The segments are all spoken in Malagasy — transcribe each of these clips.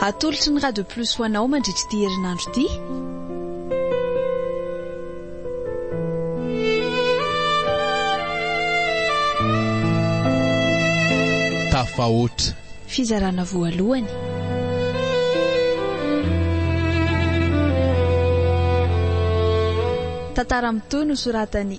Atolotry ny Radio Plus ho anao mandritra ity herinandro ity. tafahoatra. Fizarana voalohany. Tantara mitohy nosoratan'i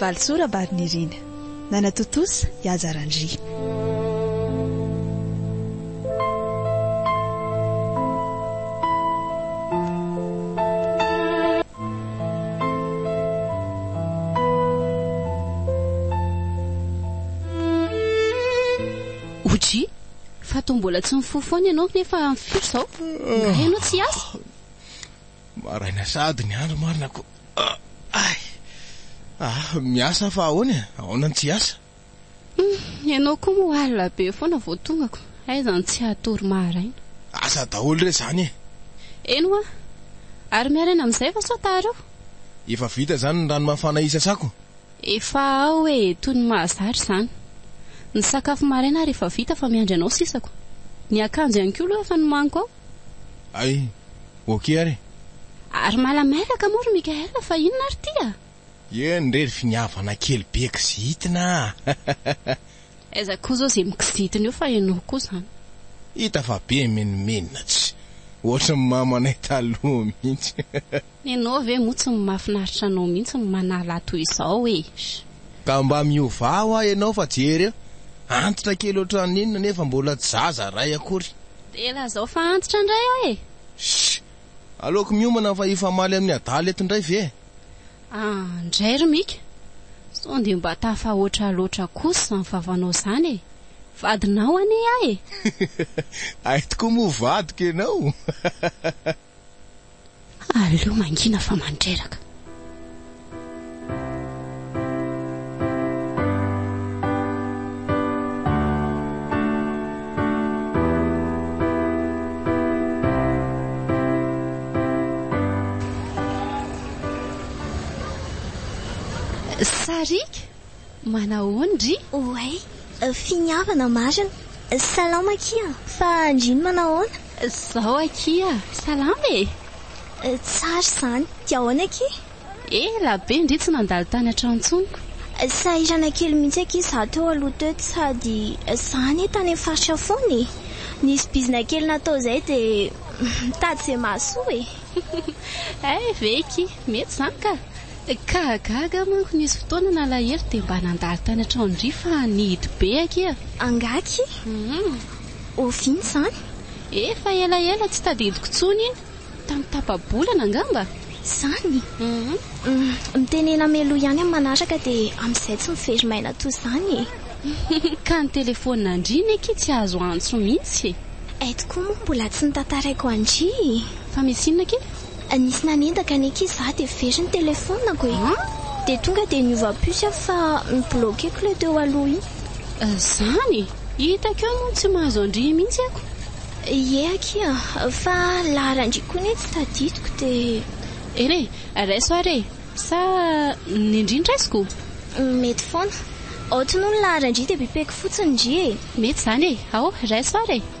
Valosoa Rabarinirina. Nanatontosa i Haja Randria. OJ, fa toa mbola tsy mifoha foana ianao nefa amin'ny firy izao? Ingahy ianao tsy hiasa? Maraina sahady ny andro marina ko. Ay! Ah! Miasa aho fa ahoana e? Ahoana ny tsy hiasa? Hum! Ianao koa moa alina be foana vao tongako, aiza ny tsy hatory maharaina? Asa daholo re izany e! Eny hoa! Ary miharaina amin'izay va sao taharao? Efa vita izany ny rano mafana hisasako? Efa ao e! Toy ny mahazara izany! Ny sakafo maraina ary efa vita fa miandry anao sisako! Ny akanjo ihany koa aloha efa nomaniko ao! Ay, ok ary e! Ary malamailaka moa ry Mickaël fa inona ary ity a! Eny re ry finiavana kely be kizitina a! Aiza koa zao ze mikizitina eo fa enao koa zany. Hita fa be menomenona tsy ohatry ny mamanay taloha mihitsy. Ianao ve moa tsy mafinaritra anao mihitsy ny manala toy izao eeh. Ka mba miovà hoa ianao fa jery eo, antitra kely ohatran'ny inona nefa mbola tsy zaza iray akory. Dia lazao fa antitra indray aho e! Shh! Aleoko miomana fa hifamaly amin'ny adala eto indray ve e! Ah, ndray ry Mika! Sao dia mba tafahoatra loatra kosa izany vavanao izany e! Vadinao anie aho e! Hay tokoa moa vadiko ianao! Aleo mangina fa mandreraka. Sariaka? Manahoan dry? Oay! Finiavana marina! Salama akia! Fa ndry manahoana? Zao akia! Salama e! Tsara izany! Dia ahoana akia? Ela be ndry tsy nandalo tany an-tranontsoniko! Sahirana kely mihitsy akia izaho teo aloha teo sady izaho anie tany amin'ny faritra foana e! Nisy bizina kely natao izay dia mitady izay mahasoa e! Hay ve akia! Mety izany ka! Ka gaga aho manko nisy fotoana nalahelo dia mba nandalo tany an-tranon-dry fa nihidy be akia. Angaky? Oviana izany? Efa elaela tsy tadidiko intsony iny, tamin'ny tapa-bolana angamba? Izany? Mitenena mialoha ihany amin'ny manaraka dia amin'izay tsy mivery maina toy izany e! Ka ny telefonina an-dry anie akia tsy azo antso mihitsy e! Eto koa moa mbola tsy notantaraiko an-dry e! Fa misy inona akia? Nisy nanendaka ny ankizy fa dia very ny telefonako e! Dia tonga dia niova puce aho fa mi-bloquer k'ilay teo aloha iny. Izany? Hitako eo moa ny tsy mahazo an-dry mihitsy ako. Ie akia, fa laharan-dry koa anie tsy tadidiko dia. Ere, raiso ary e! Sa ny ndry no raisiko? Mety foana. Aoty moa ny laharan-dry dia pipeko fotsiny ndry e! Mety izany e! Ao, raiso ary e!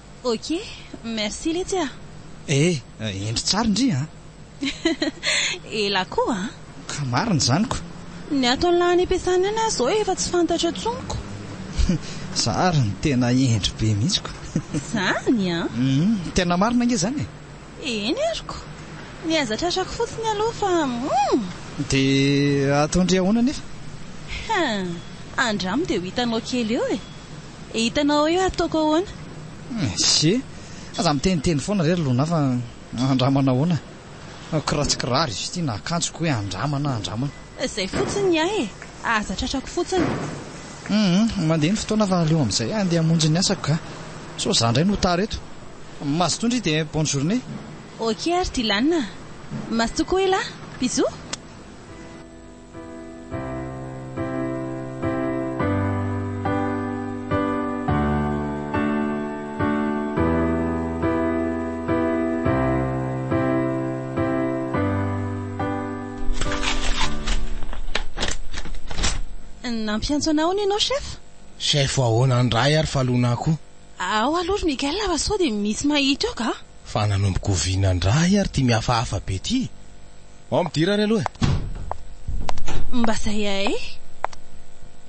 Ok, merci letsy ah. Eh, endry tsara ndry an! Ela koa an! Ka marina izany ko! Ny ato an'ilay any am-piasana any aza zao efa tsy fantatra intsony ko! Za ary no tena hendry be mihitsy ko! Izany an! Hum, tena marina ange izany e! Eny ary ko! Ny aza tratrako fotsiny aloha fa hum! Dia ataondry ahoana anefa? Hum, andramo dia ho hitanao kely eo e! Eh hitanao eo ataoko ahoana? Ssy eh! Aza miteniteny foana re ry Lona fa andramana ahoana? Ko raha tsy kiraro izy ity na akanjo ko hoe andramana andramana. Izay fotsiny ny ahy e! Aza tratrako fotsiny. Humm mandeha ny fotoana fa aleo amin'izay handeha hamonjy ny asako ka! Sao za indray no tara eto. Mazotoa ndry dia bonne journée. Ok ry Dylan a! Mazotoa koa elah! Bisous! Nampiantso anao hono ianao chef? Chef ahoana indray ary fa lona koa. Ao aloha ry Miguel fa sao dia misy mahita eo ka. Fa nanomboka oviana indray ary ity mihafahafa be ity? Ao midira ary aloha e! Mba zay ae!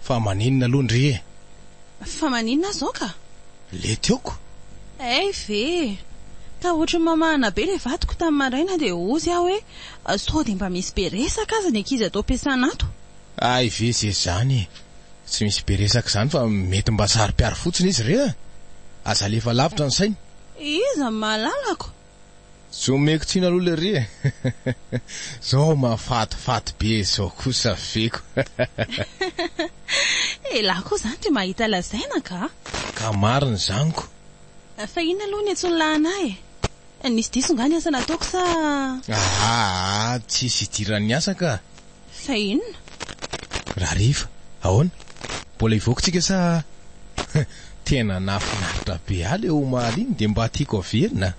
Fa maninona aloha ndry e! Fa maninona zao ka? Le tiako? Hay ve! Ka ohatry ny mamahana be le vadiko tamin'ny maraina dia hozy aho hoe sao dia mba misy be resaka aza ny ankizy ato am-piasana ato. Hay ve ze zany e! Tsy misy be resaka izany fa mety mba saro-piaro fotsiny izy re a! Aza alefa lavitra ny sainy. Iza no mahalalako? Tsy omeko tsiny aloha le ry e! Zao mahafatifaty be zao kosa feko. Elah koa zany ry mahita lazaina ka! Ka marina zany ko! Fa inona aloha ny antsoin'ny lahinah e? Nisy diso nga ny asa nataoko sa? Aa tsisy idiran'ny asa ka! Sa inona? Rahariva, ahoana? Mbola hivoaka tsika sa? Tena nahafinaritra be ahy le omaly iny dia mba tiako averina.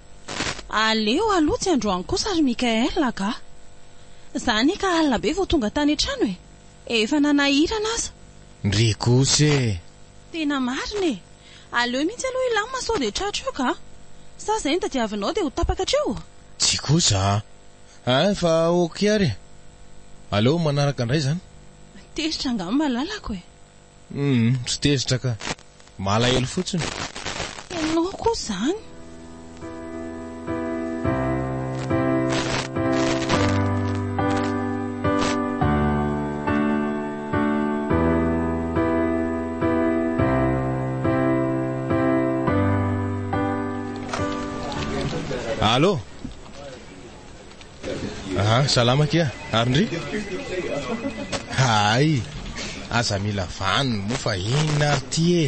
Aleo aloha tsy androany kosa ry Mickaël a! Gah! Za anie ka alina be vao tonga tany an-trano e! Efa nanahirana aza! Ndry kosa e! Tena marina e! Aleo mihitsy aloha hilamina sao dia tratro eo gah! Sa izay ny tadiavinao dia ho tapaka hatreo? Tsia kosa a! Ain fa ok ary e! Aleo manaraka indray zany. Tezitra angaha ny malalako e! Humm tsy tezitra ka! Malahelo fotsiny. Ianao koa izany. Allo! Aha, salama akia, ary ndry? Hay! Aza mila vaniny moa fa inona ary ity e!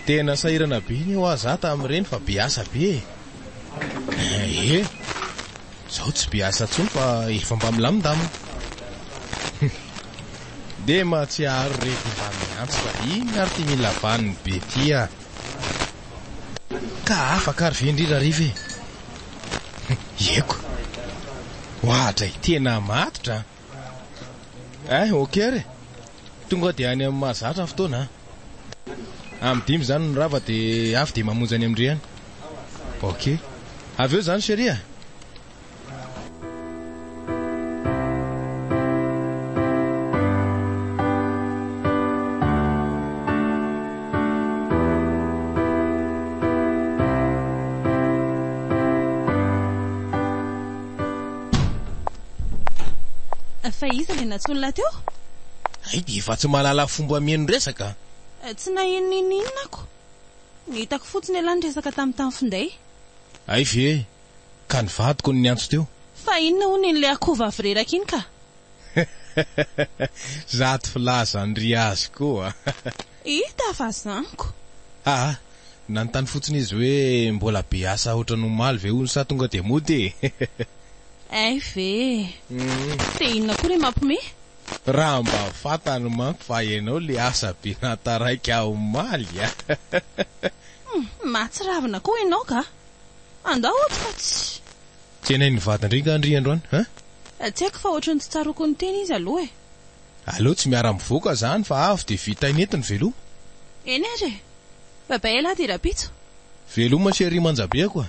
Tena sahirana be anie hoa za tamin'ireny fa be asa be e! Ehe! Zao tsy be asa intsony fa efa mba milamindamina. Dia mahatsiaro rehefa mba miantso fa inona ary ity mila vaniny be ity a! Ka afaka ary ve indrindra Rive? Ieko. Wahatra e. Tena matotra an. Eh, ok re. Tonga dia any amin'ny mahazatra ny fotoana an. Amin'ny dimy izany ny rava dia avy dia mamonjy any amin-dry any. Ok. Avy eo izany chérie a. Fa iza ilay nantsoiny lahy teo? Hay dia efa tsy mahalala fomba mihaino resaka a! Tsy naheno n'inon'inona ako. Ny hitako fotsiny ialahy niresaka tamin'ny tany finday. Hay ve? Ka ny vadiko no niantso teo. Fa inona hono iny le akoho vavy reraka iny ka? Zato filaza an ry azy koa. Hita fa zaniko. Aa! Nanontany fotsiny izy hoe mbola be asa otran omaly ve hono sa tonga dia mody e! Hay ve e! Dia inona koa ry Mapme? Raha mba fantany manko fa ianao le asa be naha taraiky ahy omaly a! Hum! Mahatsiravina koa ianao ka! Andao ato fa tsy. Tena iny vadin-dry nga an-dry androany an? Tsy haiko fa ohatry ny tsy tsaroako ny teny izy aloha e. Aleo tsy miara mivoaka zany fa avy dia vita ineto ny veloma. Eny ary e! Bye bye elah dia rapitso. Veloma chérie manjabeako a!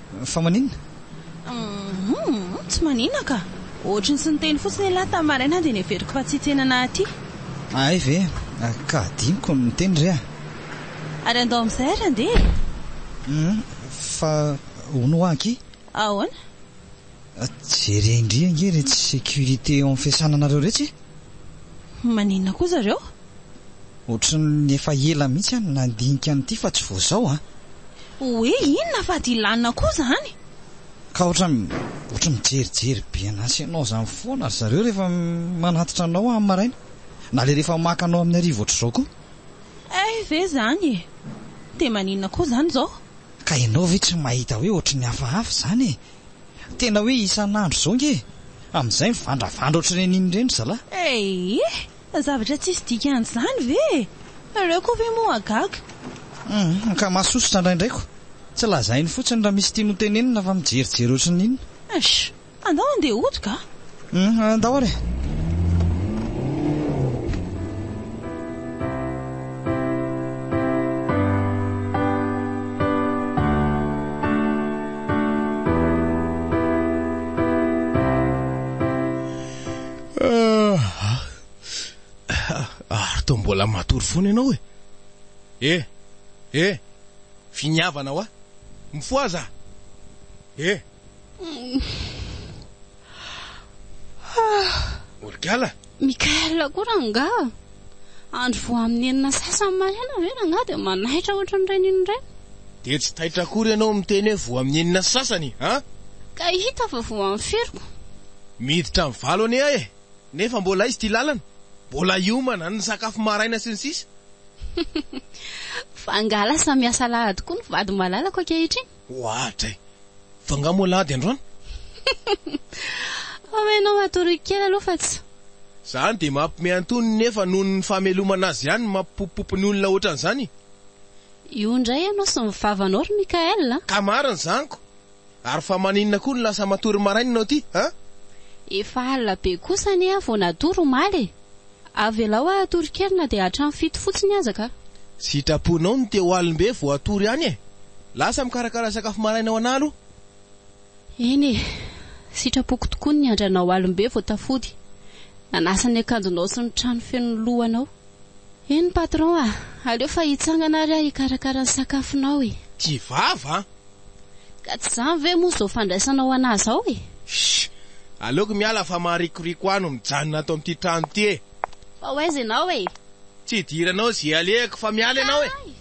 Fa maninona? Humm, tsy maninona ka. Ohatry ny tsy niteny fotsiny ialahy tamin'ny maraina dia neveriko fa tsy tena nahatia. Ahay ve? Ka adinoko ny miteny re a! Ary andao amin'izay ary andeha e! Humm, fa hono hoa ankia? Ahoana? Jereo ndry ange iretsy sécurité eo amin'ny fiasana anareo iretsy e! Maninona koa zareo? Ohatran'ny efa ela mihitsy aho no nandinika an'ity fa tsy vao izao an! Hoe inona fa dilanina koa izany? Ka ohatran'ny ohatran'ny mijerijery be an'asa ianao izany foana ry zareo rehefa manatitra anao amin'ny maraina, na ilay rehefa maka anao amin'ny hariva ohatr'izao koa! Hay ve izany e! Dia maninona koa izany izao? Ka ianao ve tsy mahita hoe ohatran'ny hafahafa izany e! Tena hoe isan'andro izao nge e! Amin'izay mivandravandra ohatr'ireny inona ireny ry zalahy. Eeh! Zavatra tsisy dikan'izany ve e! Nareo koa ve moa hagaga? Humm, ka mahasosotra indraindray ko! Tsy lazainy fotsiny raha misy tiany hotenenina fa mijerijery ohatry ny inona. Eish! Andao handeha hodoka a! Humm andao ary e. Ary toa mbola matory foana ianao e. Eh eh finiavana hoa. Mifohaza ah. Eh. Morgala! Mickaël koa rangaha! Andro vao amin'ny enina sasany maraina ve rangaha dia manaitra ohatran'ireny iny indray? Dia tsy taitra akory ianao miteny hoe vao amin'ny enina sasany an! Ka hita fa vao amin'ny firiko. Miditra amin'ny valo anie aho e! Nefa mbola aiza ity lalana? Mbola hiomana, ny sakafo maraina sy ny sisa. Fa angaha lasa miasa alahady koa ny vady malalako ankehitriny? Ohatra e! Fa nga moa lady androany? Omenao matory kely aloha fa tsy. Zany dia mampme antonony nefa noho ny famelomana azy ihany no mampipopopopy ny olona ohatran'izany. Io indray ianao sy ny vavanao ry Mickaël a! Ka marina zany ko! Ary fa maninona koa no lasa matory maraina ianao ty a? Efa alina be kosa anie aho vao natory omaly e! Avelao aho hatory kely na dia hatramin'ny fito fotsiny aza ka. Sitraponao ny teo alim-be vao hatory any e! Lasa mikarakara sakafo maraina ho anah aloha. Eny e! Sitrapoko tokoa ny niandry anao alim-be vao tafody, nanasa ny akanjonao sy ny trano feno ny lohanao. Eny patron a! Aleo fa hitsangana ary aho hikarakara ny sakafonao e! Tsy vava an! Ka tsy zany ve moa zao fandraisanao anah zao e? Shh! Aleoko miala fa maharikoriko ahy no mijanona ato amin'ity trano ity e! Fa ho aiza ianao e? Tsy idiranao ze alehako fa miala ianao e! Kay!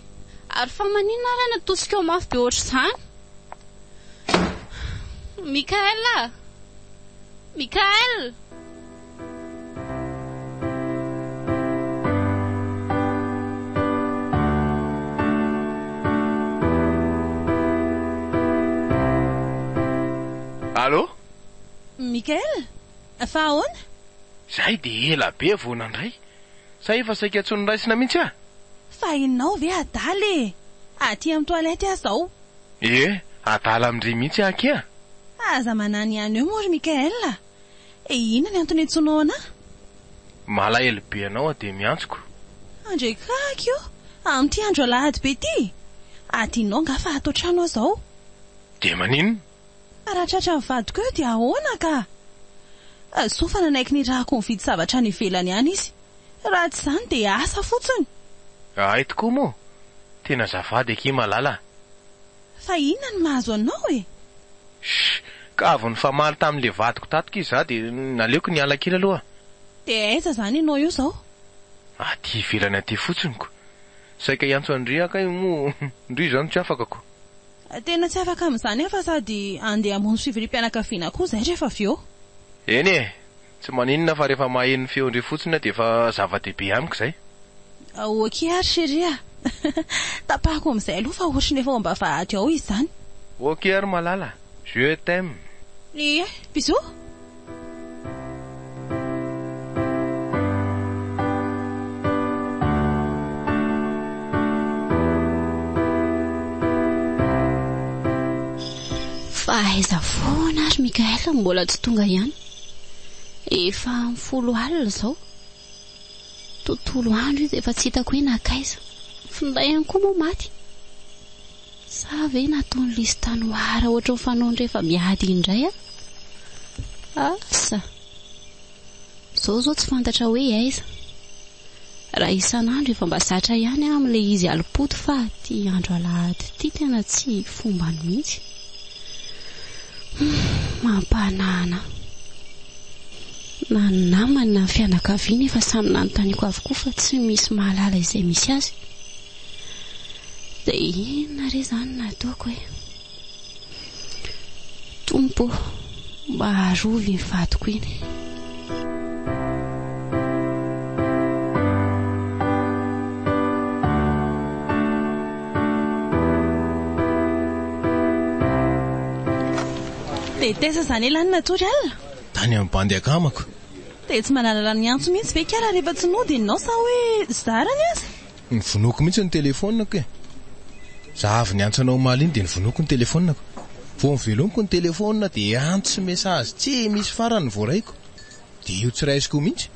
Ary fa maninona ary any atosikao mafy be ohatr'izany? Mickaël a! Mickaël! Allo? Michael? Fa ahoana? Izay dia ela be vao nandray. Sa efa saika tsy noraisina mihitsy aho? Fa ianao ve adala e! Aty amin'ny toilette aho izao. Ie, adala amin-dry mihitsy akia. Aza manano ihany eo moa ry Michael a! E inona ny antony iantsoanao anah? Malahelo be anao aho dia miantsoko. Andray kaky ô! Amin'ity andro alahady be ity? Adinonao angaha fa ato an-trano aho izao. Dia maninona? Fa raha tratran'ny vadiko eo dia ahoana ka? Soa fa nanaiky nirahako nividy zavatra any ivelany any izy. Raha tsy izany dia asa fotsiny. Ahay tokoa moa! Tena azafady akia malala a! Fa inona no mahazo anao e? Shh! Ka avy nifamaly tamin'ilay vadiko tato k'y za dia naleoko niala kely aloha. Dia aiza izany ianao eo izao? Aty ivelany aty fotsiny ko. Saika hiantso an-dry aho kay moa ndry izao no tsy afaka ko. Tena tsy afaka amin'izany aho fa sady handeha hamonjy fivoriam-pianakaviana koa izay rehefa avy eo. Eny e! Tsy maninona fa rehefa maheno ny feon-dry fotsiny aho dia efa zava-dehibe amiko izay. Ok ary chérie a! Tapahako amin'izay aloha fa ohatry ny efa ao am-bavahady ao izany. Ok ary malala! Je t'aime! Ie! Bisous! Fa aiza foana ary Mickaël no mbola tsy tonga ihany? Efa amin'ny folo alina izao. Tontolo andro izy efa tsy hitako hoe nankaiza. Ny finday ihany koa moa maty. Sa ve nataon'i Lisy tanoara ohatry ny fanaony rehefa miady indray aho? Asa! Izao izao tsy fantatra hoe aiza. Raha isan'andro efa mba zatra ihany aho amin'ilay izy alim-poto fa ity andro alahady ity tena tsy fombany mihitsy. Mampahanahana ahy. Na ny namany na ny fianakaviany efa samy nanontaniako avokoa fa tsy misy mahalala izay misy azy. Dia inona re izany no ataoko e? Tompo ô, mba arovy iny vadiko iny. Dia taiza izany elan'ny natory alina? Tany amin'ny bandy akamako. Dia tsy manalala ny antso mihitsy ve kara rehefa tsy nody ianao sa hoe zarany aza? Novonoiko mihitsy ny telefonako e! Za avy niantsa anao omaly iny dia novonoiko ny telefonako. Vao novelomiko ny telefona dia antsy message tsy misy farany ny voaraiko. Dia io tsy raisiko mihitsy.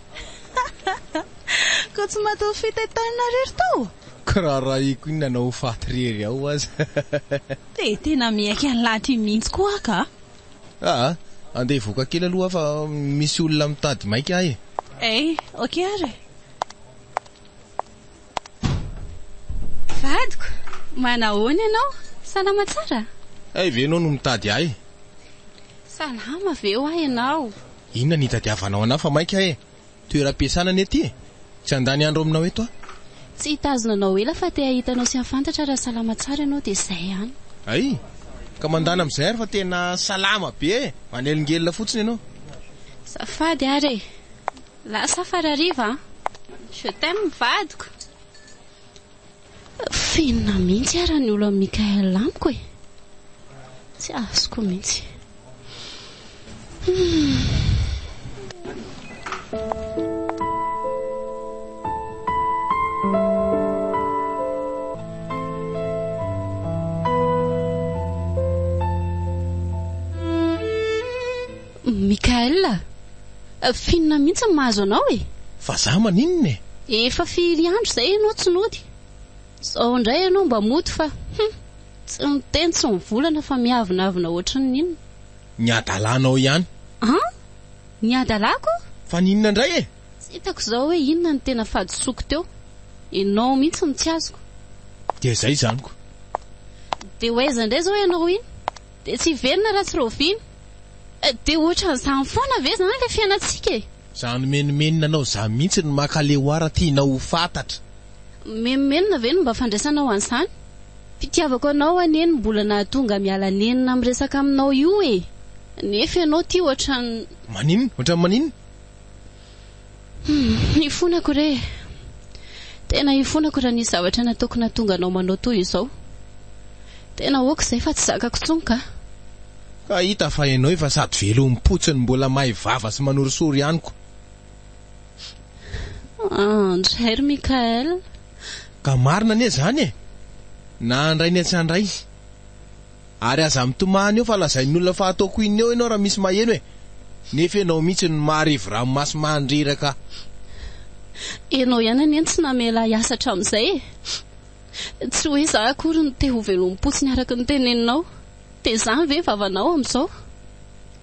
Koa tsy matoa fito etaona ry ry to? Koa raha raiko iny nanao ho faty rery ao aza. Dia tena miaiky an'i lahy ty mihitsy koa aho ka! Aa! Andeha hivoaka kely aloha aho fa misy olona mitady maika ahy e! Ee! Ok ary e! Vadiko, manahoana ianao? Salama tsara? Hay ve ianao no mitady ahy? Salama ve hoa ianao? Inona no itadiavanao an'ahy fa maika e? Toeram-piasana anie ity e! Tsy handany andro aminao eto aho. Tsy hitazona anao ela fa te hahita anao sy hahafantatra raha salama tsara ianao dia izay ihany. Hay! Ka mandana amin'izay ary fa tena salama be e! Manelingelina fotsiny ianao. Azafady ary e! Lasa fa rariva an! Je t'aime vadiko. Fenina mihitsy ara ny olo an'i Mickaël amiko e! Tsy azoko mihitsy. Mickaël a! Finina mihitsy ny mahazo anao e! Vazaha maninona e! Efa firy andro izay ianao tsy nody, izao indray ianao mba mody fa hum! Tsy miteny tsy mivolana fa miavonavona ohatry ny inona. Ny hadalanao ihany. An! Ny hadalako? Fa ny inona indray e! Tsy hitako izao hoe inona no tena fahadisoako teo. Ianao mihitsy no tsy azoko. Dia izay izany ko. Dia ho aiza indray izao ianao iny? Dia tsy hiverina raha tsy rahoviana. Dia ohatran'izany foana ve izany ilay fiainantsika e? Za nomenomenina anao za mihitsy no maka le oara tianao ho fatatra. Mimenomenona ve no mba fandraisanao an'izany? Fitiavako anao anie no mbola nahatonga miala nenina miresaka aminao io e! Nefa ianao tia ohatran'ny. Maninona? Ohatran'ny maninona? Humm ifonako re eh. Tena ifonako raha nisy zavatra nataoko nahatonga anao manao toy izao. Tena ok izay fa tsy zakako intsony kah. Ka hita fa ianao efa sady velom-potsiny mbola may vava sy manorisory ihany ko. Ah ndray ry Mickaël. Ka marina anie izany e. Na handray na tsy handray. Ary aza mitomany eo fa lazain'ny olona fa ataoko inona eo ianao raha misy maheno e! Nefa ianao mihitsy no maharivo ranomaso mandreraka. Ianao ihany anie no tsy namela ahy hiasa hatramin'izay e! Tsy hoe izaho akory no te ho velom-potsiny araka ny teneninao. Dia izany ve ny vavanao amin'izao?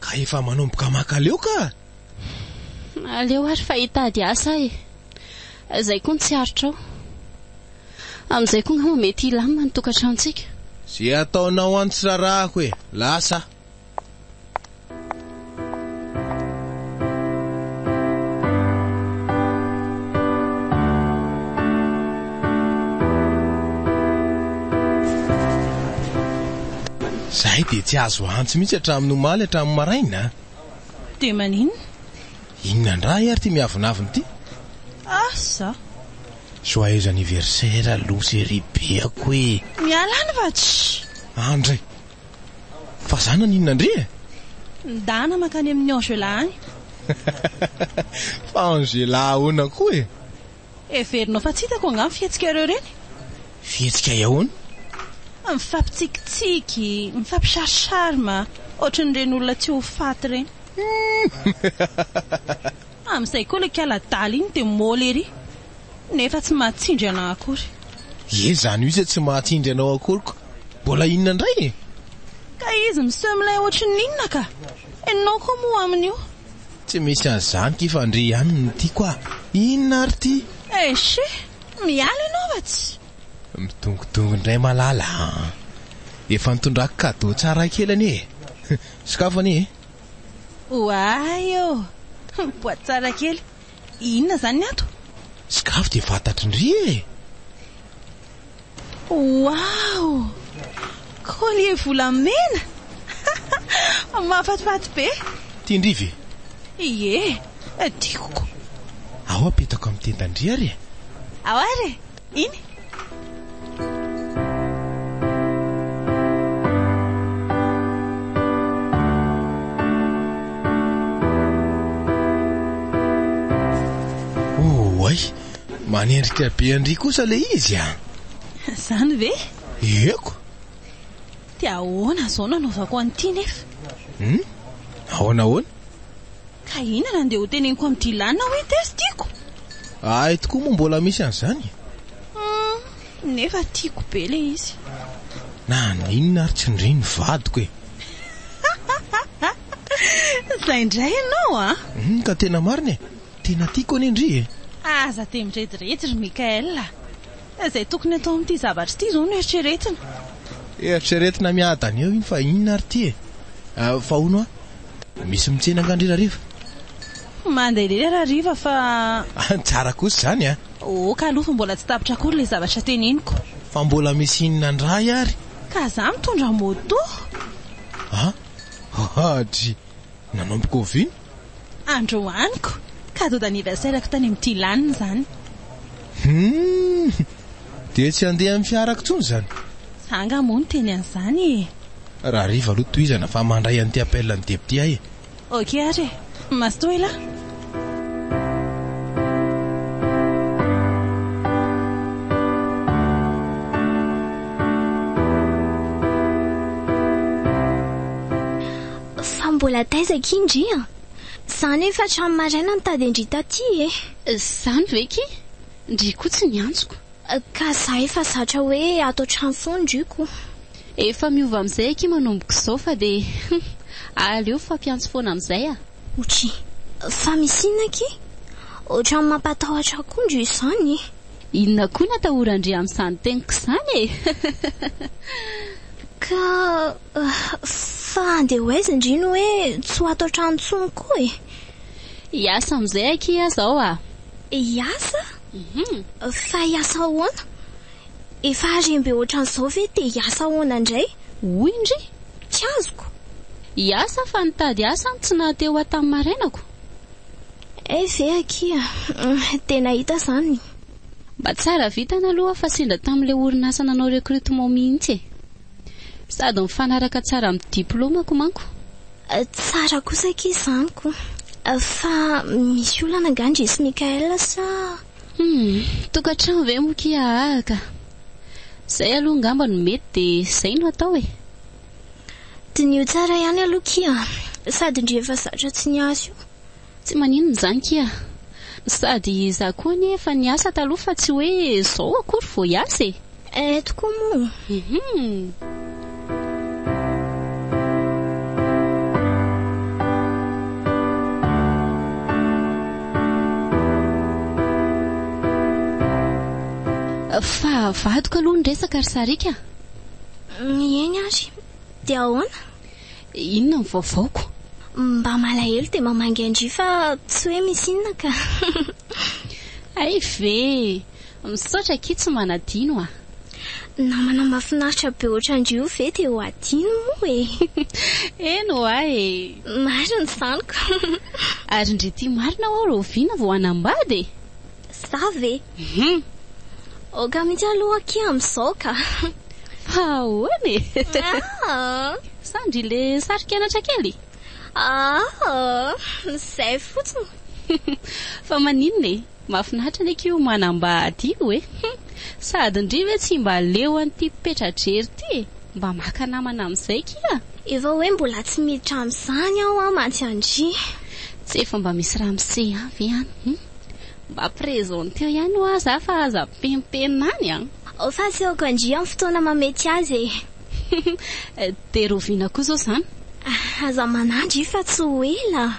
Ka efa manomboka makaleo ka! Aleo ary fa hitady asa aho e! Izay koa no tsy aritrao. Amin'izay koa angamba mety hilamina ny tokantranontsika. Izay ataonao any tsy rarahako e! Lasa aho. Izahay dia tsy azo antsy mihitsy hatramin'ny omaly hatramin'ny maraina. Dia maninona? Inona indray ary ity miavonavona ity? Asa! Joyeux anniversaire aloha se ry beako e! Miala any va tshi! Andry! Fa za naninona ndry e? Ndana mankany amin'i Angela any! Fa Angela ahoana koa e? Heverinao fa tsy hitako angaha ny fihetsikareo ireny? Fihetsika ahoana? Mifampitsikitsiky, mifampi-share charme, ohatran'ireny olona tsy ho faty ireny. Amin'izay koa ilay kala adala iny dia môly ery, nefa tsy mahatsindry anà akory. Ie, izany mihitsy hoe tsy mahatsindry anao akory koa mbola inona indray e? Ka izy miseho milay ohatrin'ny inona ka? Ianao koa moa amin'io Tsy misy an'izany ity fa ndry ihany no tiako ah! Inona ary ity? Eish eh! Miala ianao fa tsy. Midongodongo indray Malala a! Efa nitondrako cadeau tsara kely anie e! Sokafo anie e! Oay ô! Boaty tsara kely! Inona izany ny ato? Sokafo dia fantatry ndry e! Waouh! Collier volamena! Mahafatifaty be! Tian-dry ve? Ie, tiako ko! Ao apetako amin'ny tendan-dry ary e! Ao ary e! Iny! Oay! Manendrika be an-dry kosa ilay izy a! Izany ve? Ieko! Dia ahoana izao no anaovako an'ity nefa? Hum? Ahoana ahoana? Ka inona no dia ho teneniko amin'i Dylan hoe test tiako? Hay tokoa moa mbola misy an'izany e! Hum, nefa tiako be ilay izy. Naninona ary tsy ndry ny vadiko e! Izay indray ianao a! Hum, ka tena marina e! Tena tiako anie ndry e! Aza dia mirediredy ry Mickaël a! Izay tokony atao amin'ity zavatra ity izao no eritreretina. Eritreretina miadana eo iny fa inona ary ity e! Fa hono hoa, misy mitsena angaha ndry Rariva? Mandeha lery Rariva fa. Tsara kosa izany a! Ok aloha fa mbola tsy tapitra akory ilay zavatra teneniko. Fa mbola misy inona ndray ary? Ka za mitondra moto. An? Hadry! nanomboka oviana? Androaniko, cadeau d'anniversaire-ko tany amin'ny Dylan izany. Humm! Dia tsy handeha amin'ny fiarako intsony izany? Za angaha moa no teny an'izany e! Rahariva aloha tohizana fa mandray an'ity appel an'i Debo ity aho e! Ok ary e! Mazotoa elah! Fa mbola taiza akia ndry a! Za nefa hatramin'ny maraina nitady an-dry taty e! Zany ve ki! Ndry koa tsy niantsoko. Ka za efa zatra hoe ato an-trano foana ndry ko! Efa miova amin'izay akia manomboka izao fa dia hum! Aleo mifampiantso foana amin'izay a! Otry! Fa misy inona akia? Ohatran'ny mampatahotra koa ndry izany e! Inona koa no atahoran-dry amin'izany teniko izany e! Ka. Fa andeha ho aiza ndry no hoe tsy ho ato an-trano intsony koa e? Hiasa amin'izay akia izao a! Hiasa? Fa hiasa ahoana? Efa harem-be ohatran'izao ve dia hiasa ahoana indray? Hoy ndry! Tsy azoko! Hiasa fa nitady asa no tsy naha-te ho ato tamin'ny marainako. Hay ve akia! Dia nahita izany! Mba tsara vintana aloha fa sendra tamin'ilay orinasa nanao recrutement mihitsy e! Sady mifanaraka tsara amin'ny diplaomako manko. Tsara kosa akia izany ko. Fa misy olana angaha ndry sy Mickaël sa? Humm, tokantrano ve moa akia aa ka. Izay aloha angamba no mety dia izay no atao e. Diniho tsara ihany aloha akia. Sady ndry efa zatra tsy niasa io. Tsy maninona izany kia. Sady izaho koa anie efa niasa taloha fa tsy hoe izao akory vao hiasa e. Eh tokoa moa. Fa vadiko aloha ny resaka ry Sariaka a. Eny ary. Dia ahoana? Inona ny vaovaoko? Mba malahelo dia mamangy an-dry fa tsy hoe misy inona ka. Hay ve! Misaotra akia tsy manadino a! Namana mahafinaritra be ohatran-dry io ve dia ho adino moa e! Eny hoa e! Marina izany ko! Ary ndry ty marina hoa rahoviana vao hanambady e! Za ve? Hum. Aoka mihitsy aloha akia amin'izao ka. Fa ahoana e? Ah! Sa ndry le sari-kenatra kely? Ah! Izay fotsiny. Fa maninona e? Mahafinaritra anie akia io manambady io e. Hum. Sady ndry ve tsy mba leo an'ity petra-drery ity e? Mba maka namana amin'izay akia. Efa hoe mbola tsy miditra amin'izany aho mantsy an-dry. Tsy efa mba misy ramose ihany ve any? Hum. Mba presenteo ihany hoa za fa aza pempenina any an! Ao fa asehoko an-dry amin'ny fotoana mahamety azy e! Dia roviana koa izao izany? Aza manadry fa tsy ho ela an!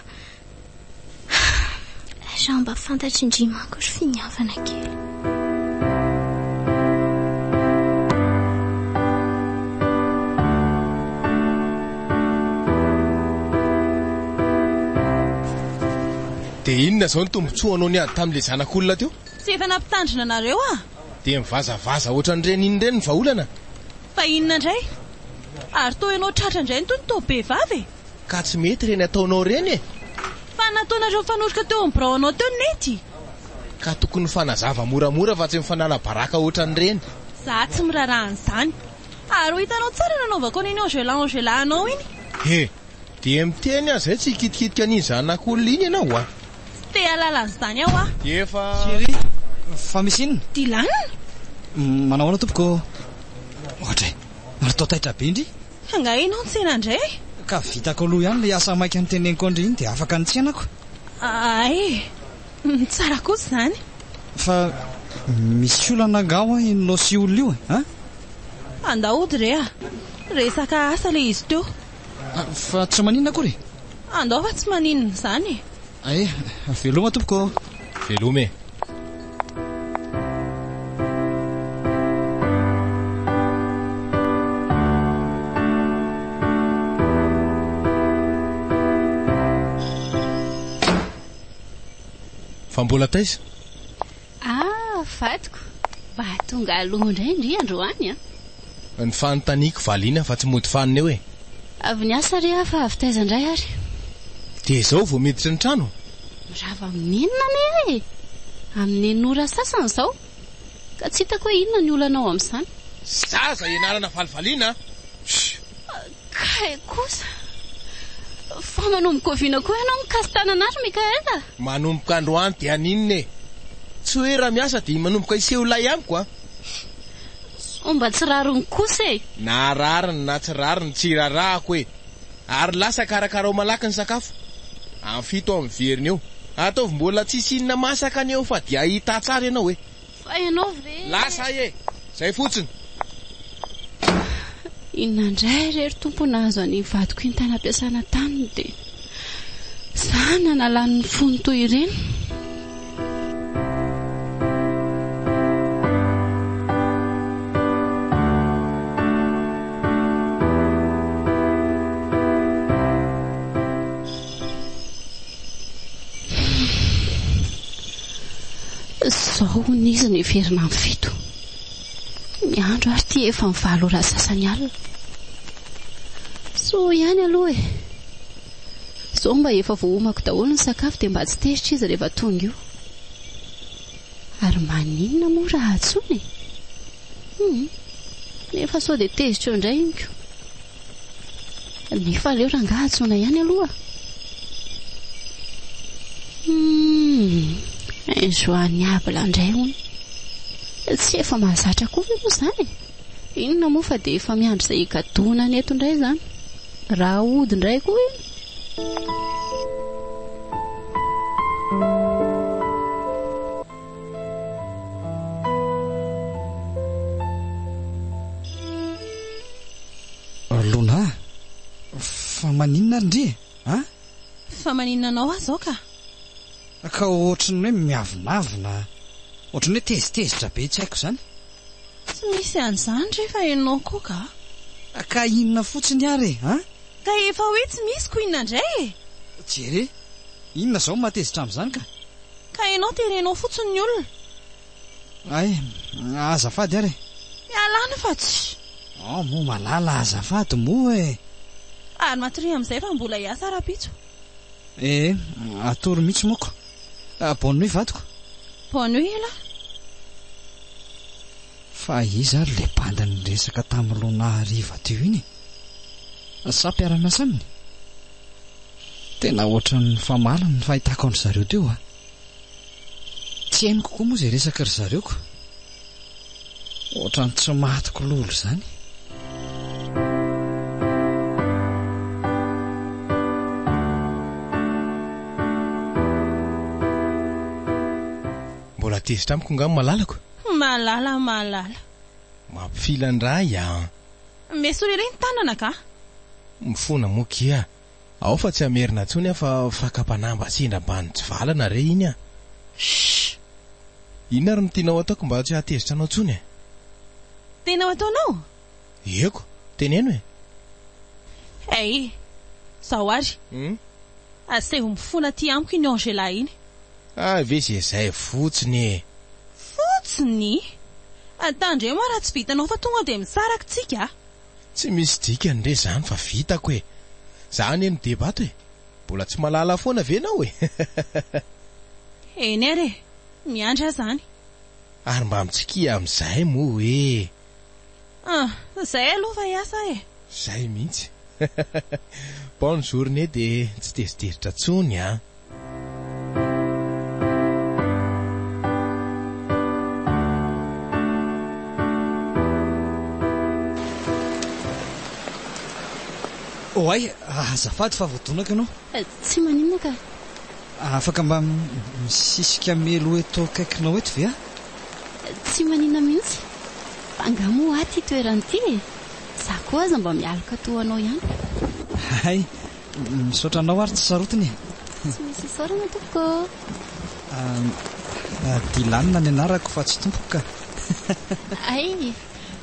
Raha mba fantatry ndry manko ry finiavana kely. Dia inona izao ny tombotsoanao niady tamin'ilay zanak'olona teo? Tsy efa nampitandrina anareo aho. Dia mivazavaza ohatran'ireny inona ireny ny vahaolana? Fa inona indray? Ary toa ianao tratra indray ny tony toa be vava e! Ka tsy mety ireny ataonao ireny e! Fa nataonareo mifanoroka teo amin'ny birao anao teo ny nety! Ka tokony mifanazava moramora fa tsy mifanala baraka ohatran'ireny! Za tsy miraharaha an'izany! Ary ho hitanao tsara nanaovako an'iny engelà engelà anao iny! He! Dia miteny aza izay tsy hikitikitika an'iny zanak'olona iny ianao a! Tsy te hahalala an'izany aho a! Dia efa. Chérie, fa misy inona? Dylan? Manao ahoana tompoko? Ohatra e! Natao taitra be ndry! Angaha ianao nitsena indray e? Ka vitako aloha ihany ilay asa maika noteneniko an-dry iny dia afaka nitsena ako. Hay e! Tsara kosa izany. Fa misy olana angaha ho'a iny Losy olona io e? An? Andao hody re a! Resaka asa ilay izy teo. Fa tsy maninona akory e. Andao fa tsy maninona izany e. Ae, veloma tompoko. Veloma e. Fa mbola taiza? Ah! vadiko, mba tonga aloha indray ndry androany an! Ny fanontaniako valiana fa tsy mody fanina eo e! Avy niasa re aho fa avy taiza indray ary? Dia izao vao miditra ny trano? Mirava amin'inona anie aho e! Amin'eny ora sasany izao, ka tsy hitako hoe inona ny olanao amin'izany? Zaza ianarana valivaliana a! Shh! Kay kosa. Fa manomboka oviana koa ianao mikasi-tanana azy Mickaël a? Manomboka androany dia haninona e? Tsy hoe raha miasa dia manomboka hiseho ilay amiko a! Sao mba tsy rariny kosa e? Na rariny na tsy rariny tsy irarahako e! Ary lasa karakarao malaky ny sakafo. Am fito am veriny eo. Ataovy mbola tsisy inona masaka ny eo fa dia hahita tsara ianao e! Fa ianao ve e. Lasa ahy e. Izay fotsiny. Inona indray re ry Tompo nahazo an'iny vadiko iny tany am-piasana tany dia za nanalany ny fony toy ireny. Izao hono izy niverina amin'ny fito. Ny andro ary ity efa ny valo ora sasany alina. Soa ihany aloha e. Izao mba efa voahomako daholo ny sakafo dia mba tsy tezitra izy rehefa tonga io. Ary maninona moa raha antsoina e? Humm, nefa sao dia tezitra eo indray iny ko. Nefa aleo rangaha antsoina ihany aloha. Humm, injoignable indray hono. Tsy efa mahazatra koa ve moa izany e? Inona moa fa dia efa miandry izay higadoana ny eto indray izany. Raha hody indray koa iny. Lona, fa maninona ary ndry e? A? Fa maninona anao ahy izao ka? Ka ohatry ny hoe miavonavona, ohatry ny hoe tezitezitra be tsy haiko izany. Tsy misy an'izany re fa ianao koa ka. Ka inona fotsiny ary e? A? Ka efa hoe tsy misy ko inona indray e! Jere! Inona izao no mahatezitra amin'izany ka! Ka ianao terenao fotsiny ny olona. Ay, azafady ary e! Ialàna fa tsy. An, moa malala azafady moa e! Ary matoria amin'izay fa mbola hiasa rahampitso. Ee, atory mihitsy moako. Bonne nuit vadiko. Bonne nuit elah. Fa iza ary ilay bandy niresaka tamin'i Lona hariva teo iny e? Sa mpiara-miasa aminy? Tena hoatran'ny nifamaly ny fahitako an-dry zareo teo a! Tsy henoko koa moa izay resaka ry zareo ka! Hoatran'ny tsy maty kololo izany! Mbola tezitra amiko nga ny malalako? Malala malala. Mampifilandray an! M'esory ery ny tanana ka! Mifona moa kia! Ao fa tsy hamerina intsony aho fa fakam-panamba sendra mba nitsivalana re iny an! Shh! Inona ary no tianao ataoko mba tsy hahatezitra anao intsony e? Tena ho ataonao? Ieko, teneno e! Hey! Zao ary! Aseho mifona aty amiko iny Angela iny! Hay ve ze zay fotsiny e! Fotsiny? Antandre moa raha tsy vitanao fa tonga dia misaraky tsika a! Tsy misy dikany re zany fa vitako e! Za anie no deba ato e! Mbola tsy malala foana ve nao e! Eny ary e! Miandry aza any! Ary mba mitsikia amin'izay moa e! Ah, izay aloha fa hiasa e! Izay mihitsy. Bonne journée dia tsy tezitezitra intsony an! Oay, azafady fa voadonako ianao. Tsy maninona ka. Afaka mba misisika meloa eto akaikinao eto ve aho? Tsy manina mihitsy. Fa angaha moa hoa ity toerana ity e? Za koa aza mba mialoka toa anao ihany. Hay, misaotra anao ary tsy sarotiny e. Tsy misy isaorana tompoko ô. Dylan ny anarako fa tsy tompoko ka. Hay,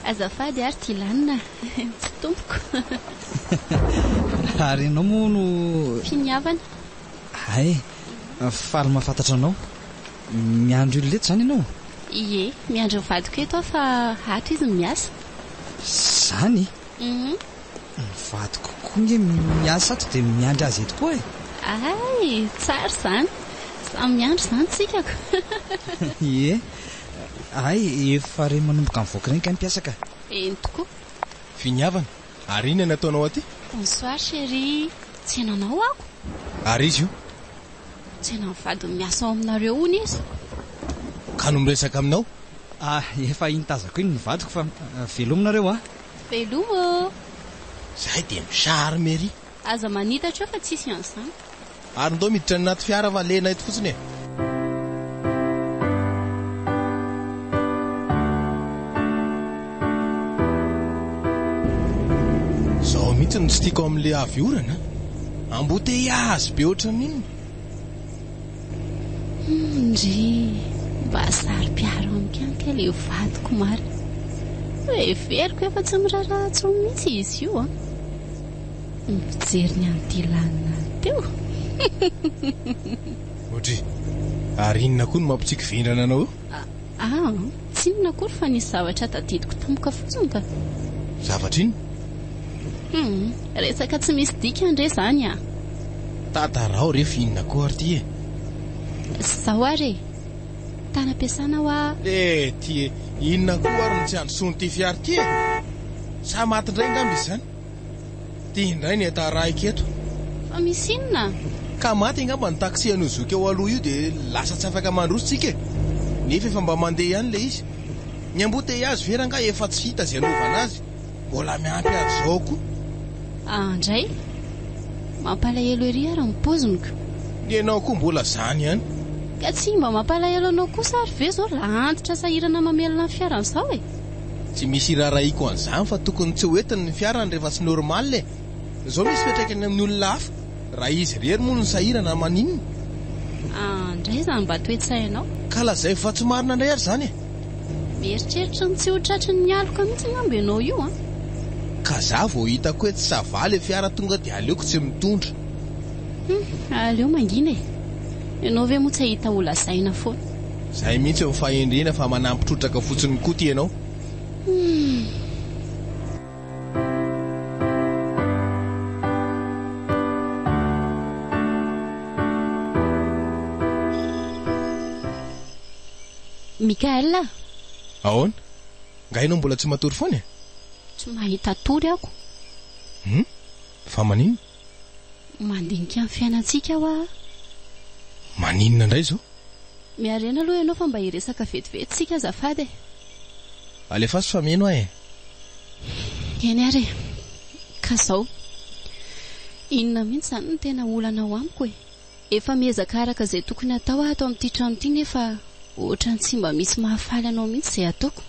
azafady ary Dylan, tsy tompoko. Ary ianao moa no. Finiavana. Hay, faly mahafantatra anao. Miandry olona eto izany ianao? Ie, miandry ny vadiko eto aho fa ato izy no miasa. Izany? Uhum. Ny vadiko koa ange miasa ato dia miandry azy eto koa e! Hay, tsara izany. Samy miandry izany tsika ko! Ie, hay efa re manomboka mivoaka ireny kay ny mpiasa ka! Eny tokoa. Viniavana, ary inona no ataonao aty? Bonsoir chérie, tsy henanao aho? Ary izy io? Tsaina ny vadiny miasa ao aminareo hono izy. Ka no miresaka aminao? Ah, efa iny tazako iny ny vadiko fa veloma nareo a! Veloma ô! Zahay dia mi-charme ery. Aza manitatra eo fa tsisy an'izany. Ary ndao miditra any anaty fiara fa lena eto fotsiny e! Zao mihitsy no tsy tiako amin'ilay avy orana a! Embouteillage be ohatran'inona! Humm ndry! Mba saro-piaro amiko ihany kay ilay vadiko marina! Heveriko efa tsy miraharaha intsony mihitsy izy io an! Ny fijeriny an'ity lanona teo! Audrey, ary inona koa no mampitsiky vendrana anao eo? Ah! Tsinona akory fa nisy zavatra tadidiko tampoka fotsiny ka! Zavatra inona? Humm! Resaka tsy misy dikany re izany ah! Tantarao re fa inona koa ary ity e! Zao ary e! Tany am-piasana aho ah! Eh! Ty e! Inona koa ary no tsy handrosoan'ity fiara ity e! Sa maty indray angamba izy izany? Ty indray ny entana raiko eto. Fa misy inona? Ka maty angamba ny taxi an'io zoky eo aloha io dia lasa tsy afaka mandroso tsika e! Nefa efa mba mandeha ihany ilay izy. Ny embouteillages ve rangah efa tsy hita izay anaovana azy? Mbola miampy azy izao koa. Ah ndray! Mampalahelo ery ary ny paoziny-ko. Ny anao koa mbola izany ihany. Ka tsy mba mampalahelo anao kosa ary ve izao raha antitra sahirana mamelona ny fiara an'izao e? Tsy misy irarahiako an'izany fa tokony tsy hoentiny ny fiarany rehefa tsy normal e! Zao misy fiantraikany amin'ny olona hafa raha izy irery moa no sahirana na maninona. An ndray zany mba toetsainao. Ka lazaiko fa tsy marina ndray ary zany e! Mieritreritra ny tsy ho tratry ny aloka mihitsy angamba ianao io an! Ka za vao hitako hoe tsy ça va le fiara tonga dia aleoko tsy mitondra. Hum, aleo mangina e! Ianao ve moa tsy hahita ho lazaina foana. Zay mihitsy ny fahendrena fa manampy trotraka fotsiny Koto ianao. Mickaël a! Ahoana? Nga ianao mbola tsy matory foana e? Tsy mahita tory ako. Hum? Fa maninona? Mandinika ny fiainantsika aho aa. Maninona indray izao? Miharena aloha ianao fa mba hiresaka vetivety isika azafady e. Alefaso fa mino aho e. Eny ary e. Ka izao. Inona mihitsy izany no tena olana ao amiko e? Efa miezaka araka izay tokony hatao aho ato amin'ity trano ity nefa ohatran'ny tsy mba misy mahafaly anao mihitsy izay ataoko.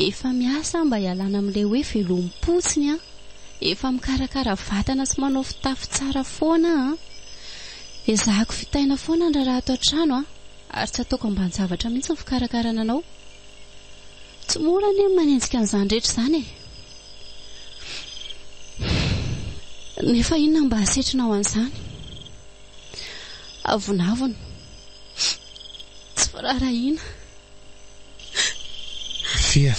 Efa miasa aho mba hialana amin'ilay hoe velom-potsiny an! Efa mikarakara vatana sy manao fitafy tsara foana aho an! Ezahako vitaina foana ny raharaha ato an-trano an! Ary tsy ataoko ambanin-javatra mihitsy ny fikarakarana anao. Tsy mora anie ny manenjika an'izany rehetra izany e! Nefa inona mba hasetrina ho an'izany? Avonavona. Tsy firaharahiana. Fia,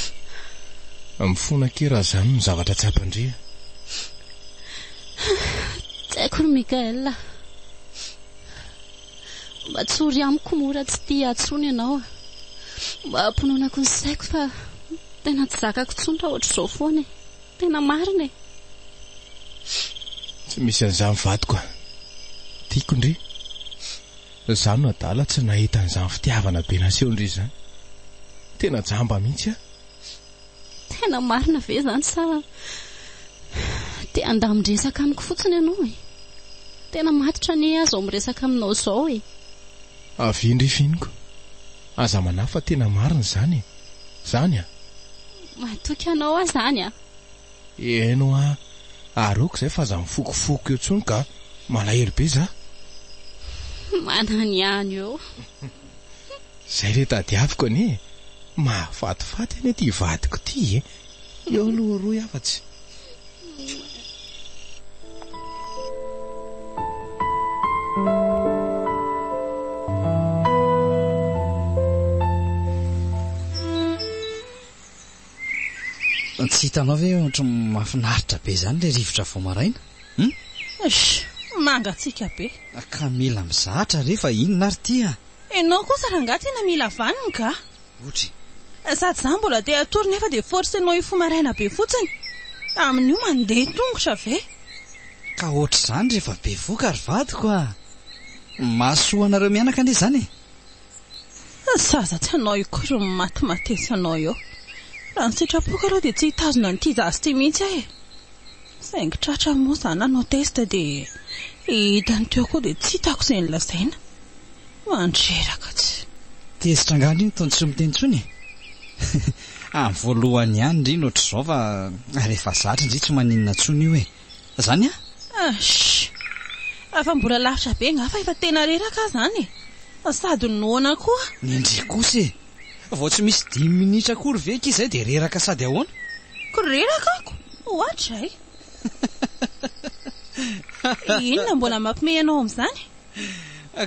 mifona akia raha izany no zavatra tsapan-dria. Tsy haiko ry Mickaël a. Mba tsory amiko mora tsy tia tsony ianao a! Mba apononako ny saiko fa tena tsy zakako tsony raha ohatr'izao foana e! Tena marina e! Tsy misy an'izany vadiko a! Tiako ndry! Za no adala tsy nahita an'izany fitiavana be nasehon-dry izany! Tena jamba mihitsy aho! Tena marina ve izany sa te handamin-dresaka amiko fotsiny ianao e? Tena matotra anie aho izao miresaka aminao izao e! Avy eny ry Finiko, aza manahy fa tena marina izany e! Izany an! Matoky anao aho izany an! Eno an! Ary aoka izay fa aza mifokofoko eo intsony ka! Malahelo be izaho! Manany ihany eo! Zay le tadiaviko anie e! Mahafatifaty anie ty vadiko ty e! Eo aloha rohy afatsy. Tsy hitanao ve ohatry ny mahafinaritra be izany ilay rivotra vao maraina? Hum? Eish! Mangatsiaka be. Ka mila mizatra re fa inona ary ity a! Ianao kosa rangahy tena mila vaniny ka! Otry. Sady izaho mbola te hatory nefa dia forcenao hifoha maraina be fotsiny. Amin'io mandeha tongotra ve? Ka ohatr'izany rehefa bevoka ry vadiko a! Mahasoa anareo mianaka anie izany e! Fa aza tsy anao io koa ry maty matesy anao eo. Raha ny sitrapoko aloha dia tsy hitazona an'ity zaza ity mihitsy aho e. Saingy tratra moa izaho nanao test dia hitany teo koa dia tsy hitako izay nolazaina. Mandreraka tsy. Tezitra angaha ndry ny tony tsy miteny intsony e. Amin'ny voalohany ihany ndry ny ohatr'izao fa rehefa zatra ndry tsy maninona intsony io e. Zany a? Sh! Raha fa mbola lavitra be nga fa efa tena reraka aho zany e! Sady noana koa! Nendrey kosa e! Vao tsy misy dimy minitra akory ve ki zay dia reraka sady ahoana? Ko reraka ako! Ohatray! Inona mbola mampme anao amzany?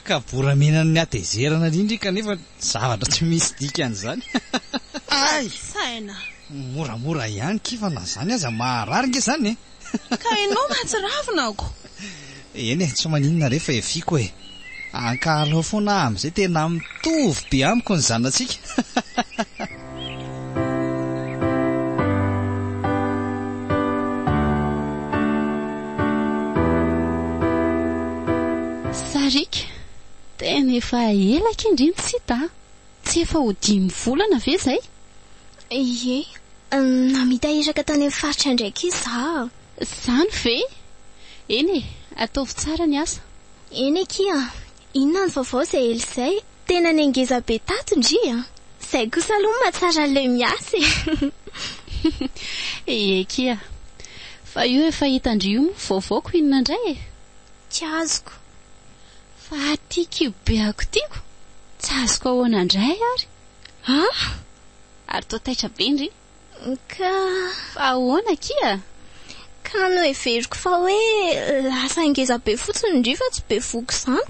Kaboramena ny hatezerana indrindra ika nefa zavatra tsy misy dikany zany! Ay! Saina! Moramora ihany key fa na izany aza maharary nge izany e! Ka enao mahatsiravina ako! Eny e, tsy maninona re fa efiako e! Ankahalao foana aho amin'izay tena mitovy be amiko ny zanatsika! Sariaka, tena efa ela akia ndry no tsy hita a! Tsy efa ho dimy volana ve izay? Ie. Namita iraka tany amin'ny faritra indraika izaho. Izany ve? Eny e, ataovy tsara ny asa. Eny akia. Inona ny vaovao izay ela izay? Tena nengeza be tato ndry a! Izay kosa aloha mahatsara an'ilay miasa e! Ie akia. Fa io efa hitan-dry io moa vaovaoko inona indray e? Tsy azoko. Fa aty kibobeako tiako tsy azoko ahoana indray ary ah! Ary toa taitra be ndry. Ka. Fa ahoana akia? Ka noheveriko fa hoe lasa ngeza be fotsiny ndry fa tsy bevohoka izany.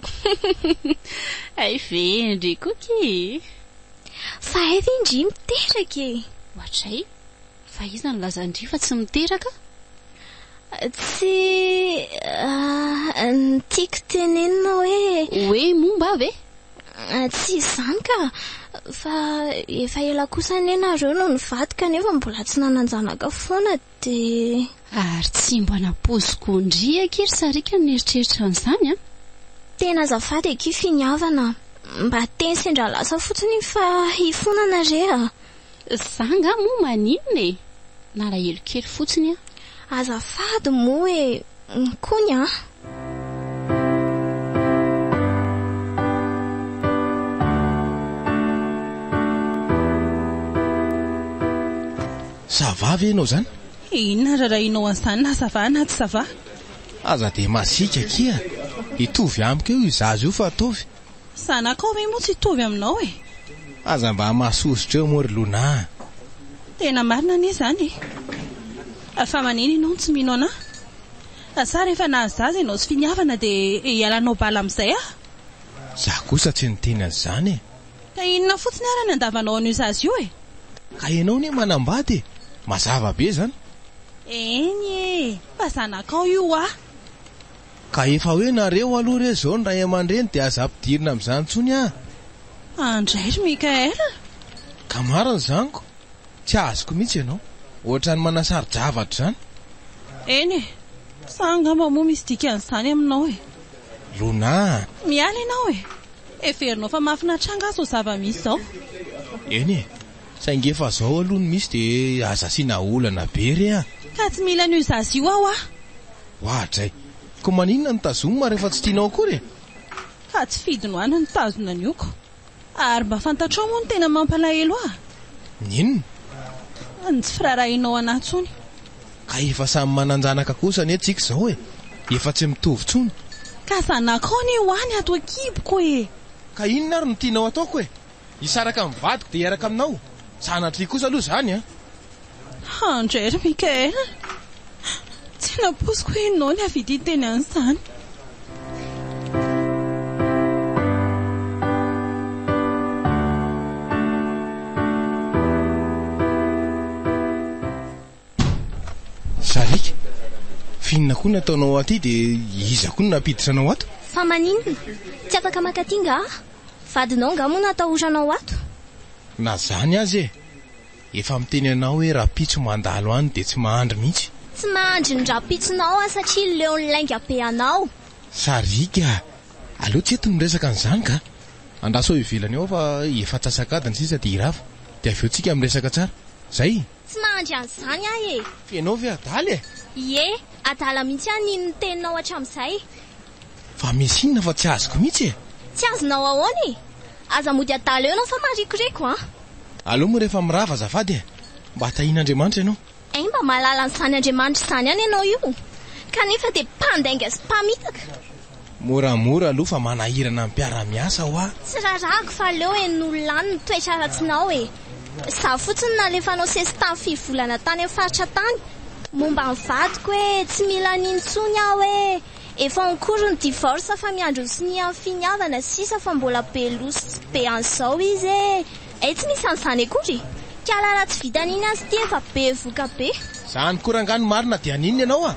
Hay ve ndry koky? Fa hay ve ndry miteraka e? Ohatray. Fa iza no lazan-dry fa tsy miteraka? Tsy ny tiako tenenina hoe. Hoe momba ahy ve? Tsy izany ka! Fa efa ela kosa anie nareo no nivady kanefa mbola tsy nanan-janaka foana dia. Ary tsy mba nampoiziko ndry akia ry sariaka ny nieritreritra an'izany an! Tena azafady akia finiavana a! Mba teny sendra lasa fotsiny iny fa hifonana re a! Za nga moa maninona e! Nalahelo kely fotsiny aho. Azafady moa e! Kony a! Ça va ve ianao zany? Inona rarahinao an'izany na ça va na tsy ça va? Aza dia masiaka akia! Hitovy amiko eo izaza io fa ataovy. Zanakao ve moa tsy hitovy aminao e. Aza mba masosotra eo moa ry Lona a. Tena marina anie izany e. Fa manina ianao no tsy mino anahy? Sa rehefa nahazaza ianao tsy finiavana dia hialanao bala amin'izay aho? Za kosa tsy niteny an'izany e. Ka inona fotsiny ary ny andavanao an'io zaza io e? Ka ianao anie manambady e. Mazava be izany. Eny e, fa zanakao io hoa. Ka efa hoe nareo aloha re zao ny ray aman-dreny dia aza ampidirina amin'izany intsony ah! Andray ry Mickaël ah! Ka marina izany ko! Tsy azoko mihitsy ianao! Ohatran'ny manasaro-javatra izany! Eny e! Sa angamba moa misy dikan'izany aminao e! Lona ah! Miala ianao e! Heverinao fa mahafinaritra angaha izao zava-misy izao? Eny e! Saingy efa izao aloha no misy dia aza asiana olana be re ah! Ka tsy mila an'io zaza io aho ah! Ohatra e! Ko maninona no tazoma rehefa tsy tianao akory e? Fa tsy fidiny ho any nitazona ny oko. Ary mba fantatrao moa ny tena mampalahelo ahy? Ny inona? Ny tsy firaharahianao anah intsony. Ka efa samy manan-janaka kosa anie tsika izao e! Efa tsy mitovy intsony. Ka zanakao anie ho any ato an-kiboko e! Ka inona ary no tianao ataoko e? Hisaraka amin'ny vadiko dia hiaraka aminao. Sanatria kosa aloha izany an! Handray ry Mickaël a! Tsy nampoiziko hoe ianao ny havidy hiteny an'izany. Sariaka, f'inona koa no ataonao aty dia iza koa no nampiditra anao ato? Fa maninona? Tsy afaka maka aty nga aho? Vadinao nga moa no atahoranao ato? Na zany aza e! Efa miteny anao hoe rapitso mandalo any dia tsy mahandry mihitsy. Tsy mahandry ny rapitsonao aho satria leon'ny lainga be anao. Sariaka, aleo tsy eto ny resaka an'izany ka! Andraso eo ivelany ao fa efa antsasak'adiny sisa dia hirava, dia avy eo tsika miresaka tsara. Zay! Tsy mahandry an'izany aho e! Ianao ve adala e? Ie, adala mihitsy aho nino ny teninao hatramin'izay. Fa misy inona fa tsy azoko mihitsy e? Tsy azonao ahoana e? Aza mody adala eo ianao fa marikoriko an! Aleo moa rehefa mirava azafady e! Mba tahian'Andriamanitra ianao. Hay mba mahalala an'izany Andriamanitra izany ihany ianao io! Kanefa dia mpandainga sy mpamitaka! Moramora aloha fa manahirana ny mpiara-miasa hoa. Tsy rarahako fa aleo henon'olona any ny toetra ratsinao e! Za fotsiny nalefanao sesitany firy volana tany amin'ny faritra tany momba ny vadiko hoe tsy mila an'iny intsony aho hoe efa en cours ny divorce fa miandry ny sonia ny finiavana sisa fa mbola be loso sy be an'izao izy e! Hey tsy misy an'izany akory e! Kala raha tsy vitan'iny aza ity efa be voka be. Zany ko rangah no marina dia haninona ianao a!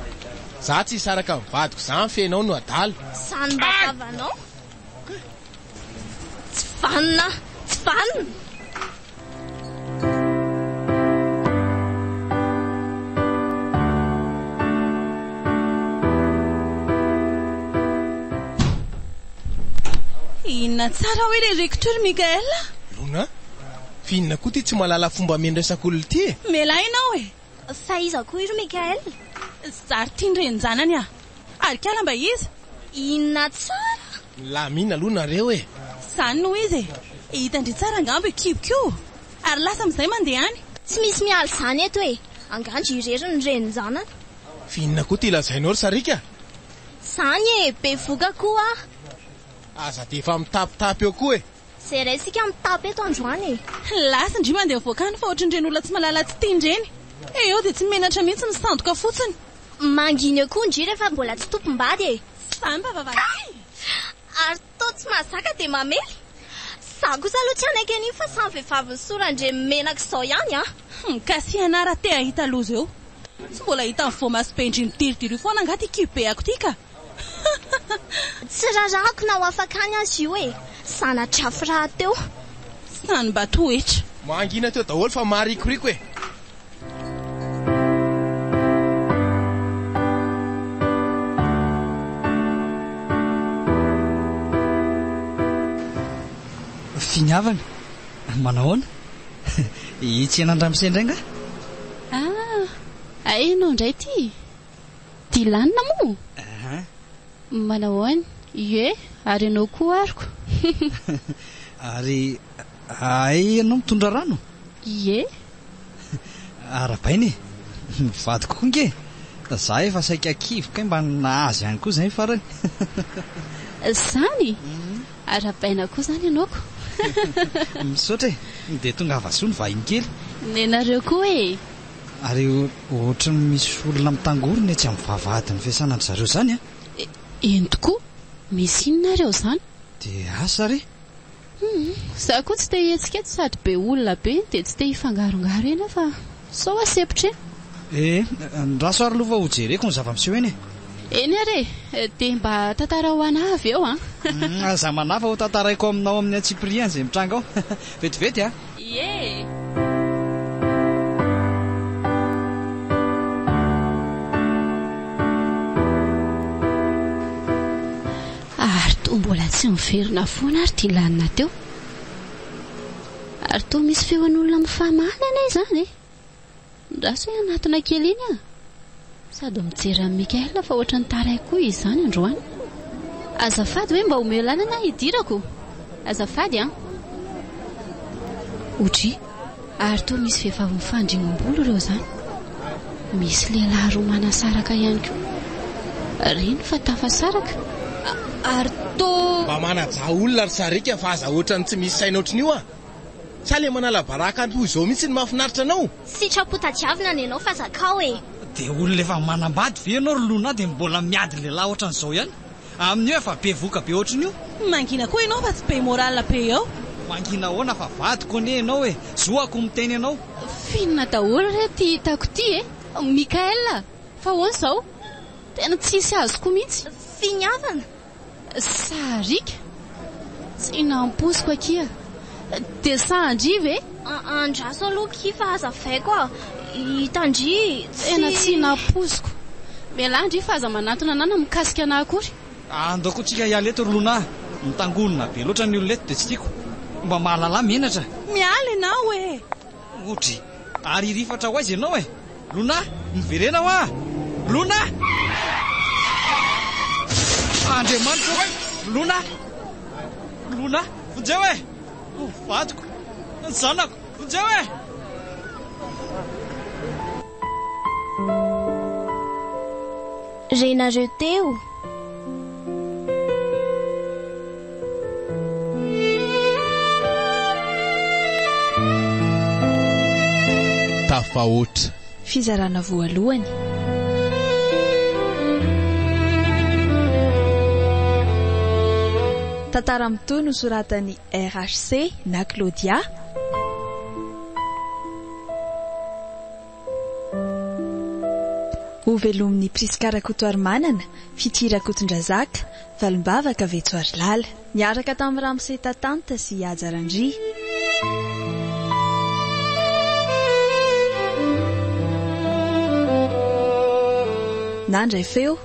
Za tsy hisaraka amin'ny vadiko za mifehy anao no adala. Zany mba tavanao tsy vanona tsy vanona. Inona tsara hoy ilay Recteur ry Michael a? Lona, fa inona koa ity tsy mahalala fomba ameno resaka olona ity e? Mialà ianao e! Fa iza koa iro Michael? Zary tian'ny renin-janany aho. Ary kala mba iza? Inona tsara? Milamina aloha nareo e! Zany no izy e! Hitan-dry tsara angamba io kiboko io ary lasa amin'izay mandeha any. Tsy misy miala izany eto e! Angaha ndry irery no renin-janany? Fa inona koa ity lazainao ry Sariaka? Zany e, bevoka koa aho. Aza dia efa mitapitapy eo koa e. Zay iray isika mitapy eto androany e. Lasa ndry mandeha mivoaka any fa ohatrin'ireny olona tsy malala tsy tia indreny. Eo dia tsy menatra mihitsy misandoka fotsiny. Mangina eo koa ndry rehefa mbola tsy tompom-bady e. Zany fa vavahady. Kay! Ary Toa tsy mahazaka dia mamely. Za kosa aloha tsy hanaiky an'io fa samy vehivavin'i soa randriamenaka izao ihany an! Humm ka sy ianà raha te hahita loza eo. Tsy mbola hitan'ny voamaso be ndry midiridiry foana angaha ty kibeako ty ka! Hahahahha. Tsy rarahako na ho afaka any aza io e! Zana-drafy rahateo. Sa ny mba toetra. Mangina teo daholo fa maharikoriko e! Finiavana, manao ahoana? Hitsiena an-dramose indray nga? Ah, ianao indray ty? Dilanina moa? Aha. Manao ahoana? Ie, ary ianao koa aroko. Ary Hay ianao mitondra rano? Ie. Arahabaina e! Mivadika koa ange! Za efa saika kivy kay mba nahazo ihany koa zay farany. Zany? Arahabaina koa zany ianao ko! Misaotra e! Dia tongava soa ny vahiny kely. Nenareo koa e! Ary ohatran'ny misy olona mitangorona etsy amin'ny vavahadin'ny fiasanan-dry zareo zany an! Eny tokoa! Misy inona ary ao zany? DH, ary? Humm za koa tsy te hihetsiketsy sady be olona be dia tsy te hifangarongaro eny aho fa sao hoa sempotra e. Eh, andraso ary aloha fa ho jereko ny zava-miseho eny e. Eny ary e, dia mba tantarao ho an ahy avy eo an. Humm aza manafa ho tantaraiko aminao amin'ny antsipiriany izay mitranga ao. Vetivety an. Ie. Ary toa mbola tsy miverina foana ary Dylan teo. Ary toa misy feon'olona mifamaly anie izany e! Midraso hoe hanatona kely iny aho. Sady mijery an'i Michael fa ohatran'ny taraiko koa izany androany. Azafady hoe mba omeo lalana aho hidirako. Azafady an! Odry. Ary toa misy vehivavy mifandrimbolo ireo izany. Misy lehilahy roa manasaraka ihany koa. Reny fa tafasaraka ary toa. Mba manajà olona ry Sariaka fa aza ohatran'ny tsy misy saina ohatry ny io an! Sa le manala baraka toa izao mihitsy no mahafinaritra anao? Sitrapo tadiavina ny anao fa zakao e! Dia olona efa manambady ve ianao ry Lona dia mbola miady lehilahy ohatran'izao ihany? Amin'io efa be voka be ohatrin'io. Mangina koa ianao fa tsy be morale be eo. Mangina ahoana fa vadiko anie ianao e! Zoako miteny anao. Finina daholo re ty hitako ty e! Mickaël a! Fa ahoana izao? Tena tsisy azoko mihitsy. Finiavana! Sariaka! Tsy nampoiziko akia. Dia sahan-dry ve? Andraso aloha akia fa aza avaiko a! Hitan-dry tsy. Tena tsy nampoiziko. Mialà an-dry fa aza manantona anà na mikasika anà akory. Andao koa tsika hiala eto ry Lona a! Mitangonona be loatra ny olona eto dia tsy tiako. Mba mahalala menatra. Miala ianao e! Otry ary hirifatra ho aiza ianao e! Lona, miverena hoa! Lona! Andriamanitra o! Lona! Lona! Vonjeo e! Ny vadiko! Ny zanako! Vonjeo e! Renareo teo? Tafahoatra. Fizarana voalohany. Tantara mitohy nosoratan'i RHC na Claudia. Ho velomin'i Prisca Rakotoarimanana, Fitia Rakotondrazaka, Valimbavaka, Vetsoarilala. Niaraka tamin'i Ramose Tatanta sy Haja Randria. Nandray feo,